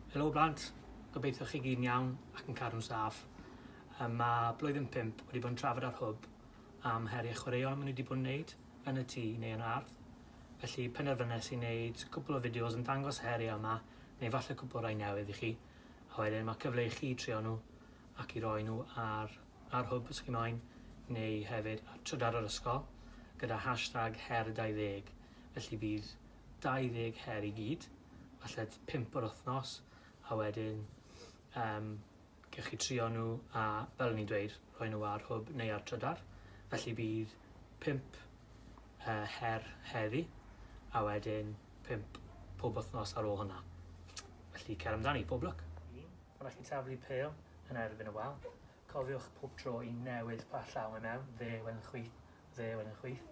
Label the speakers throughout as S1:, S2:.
S1: Helo blant, gobeithio chi gyd yn iawn ac yn cadw'n saff. Yy, Mae blwyddyn 5 wedi bod yn trafod ar hwb am heriau chwaraeon maen nhw wedi bod yn wneud yn y tŷ neu yn yr ardd. Felly penderfynais i wneud cwpl o fideos yn dangos y heriau yma neu falle cwpl rai newydd i chi a wedyn mae cyfle i chi trio nhw ac i roi nhw ar, ar hwb os chi moyn neu hefyd ar trydar yr ysgol gyda hashtag her 20 felly bydd 20 her i gyd, falle 5 yr wythnos, a wedyn um, gewch chi trio nhw a, fel ni'n dweud, rhoi nhw ar hwb neu ar trydar. Felly bydd 5 uh, her heddi, a wedyn 5 pob wythnos ar ôl hwnna. Felly cer amdani, pob lwc. Rhaid chi taflu pel yn erbyn y wal. Cofiwch pob tro i newid pa llaw mae mewn, dde i wen chwith, dde i wen chwith.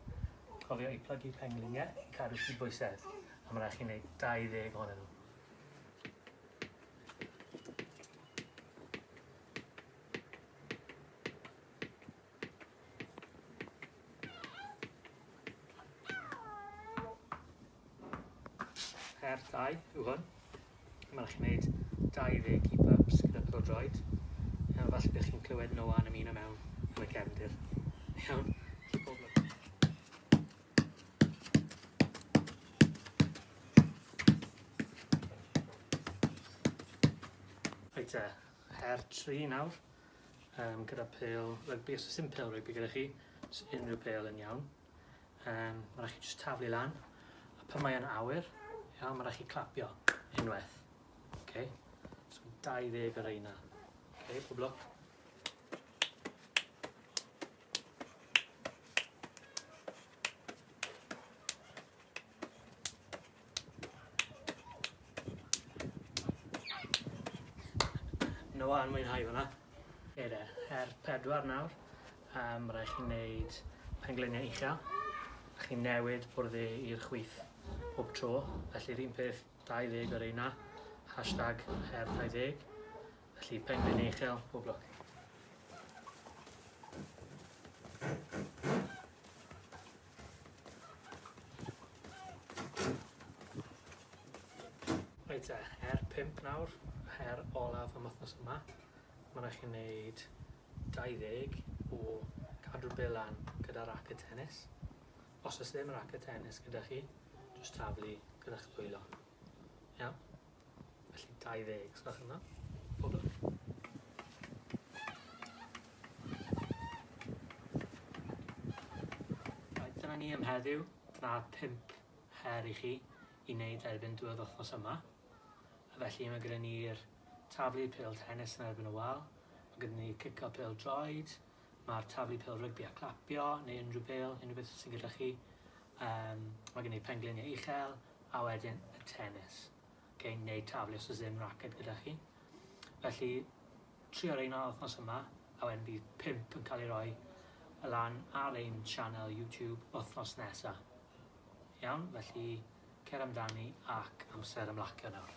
S1: Cofio i plygu pengliniau i cadw cydbwysedd, a mae'n rhaid chi wneud 20 ohonyn nhw. Her dau yw hwn. Mae'n rhaid chi wneud 20 keep-ups gyda pêl-droed. Iawn, falle bych chi'n clywed Noah yn ymuno mewn yn y cefndir. Iawn, chi bob lwc. Reit te, her tri nawr. yym gyda pêl rygbi os o's dim pêl rygbi gyda chi jys unryw pêl yn iawn. Yym ma' rai' chi jyst taflu lan a pan mae e'n awyr iawn ma' rai' chi clapio unwaith. Oce? So 20 o reina. Oce pob lwc. No one mwynhau hwnna. Ie de, her pedwar nawr. Yym ma' rai' chi neud pengliniau uchel. Chi'n newid bwrdd e i'r chwith pob tro felly 'r un peth 20 o reina. Hashtag her 20. Felly pengliniau uchel pob lwc. Reit te, her pump nawr, her olaf am wthnos yma. Ma' rai' chi neud dau ddeg o cadw bil lan gyda raced tenis. Os o's ddim raced tenis gyda chi, jyst taflu gyda'ch dwylo. Iawn. Felly 20 os gwelwch yn dda. Poblogaidd. Reit dyna ni am heddiw. Dyna pump her i chi i wneud erbyn diwedd wythnos yma. A felly mae gyda ni'r taflu pêl tennis yn erbyn y wal, mae gyda ni cico pêl droed, ma'r taflu pêl rygbi a clapio neu unrhyw bêl unrhyw beth sy'n gyda chi. Yym ma' gen i penglinie uchel a wedyn y tenis. Oce neu taflu os o's ddim raced gyda chi. Felly trio reina wthnos yma a wedyn bydd pump yn ca'l ei roi y lan ar ein sianel YouTube wthnos nesa. Iawn felly cer amdani ac amser ymlacio nawr.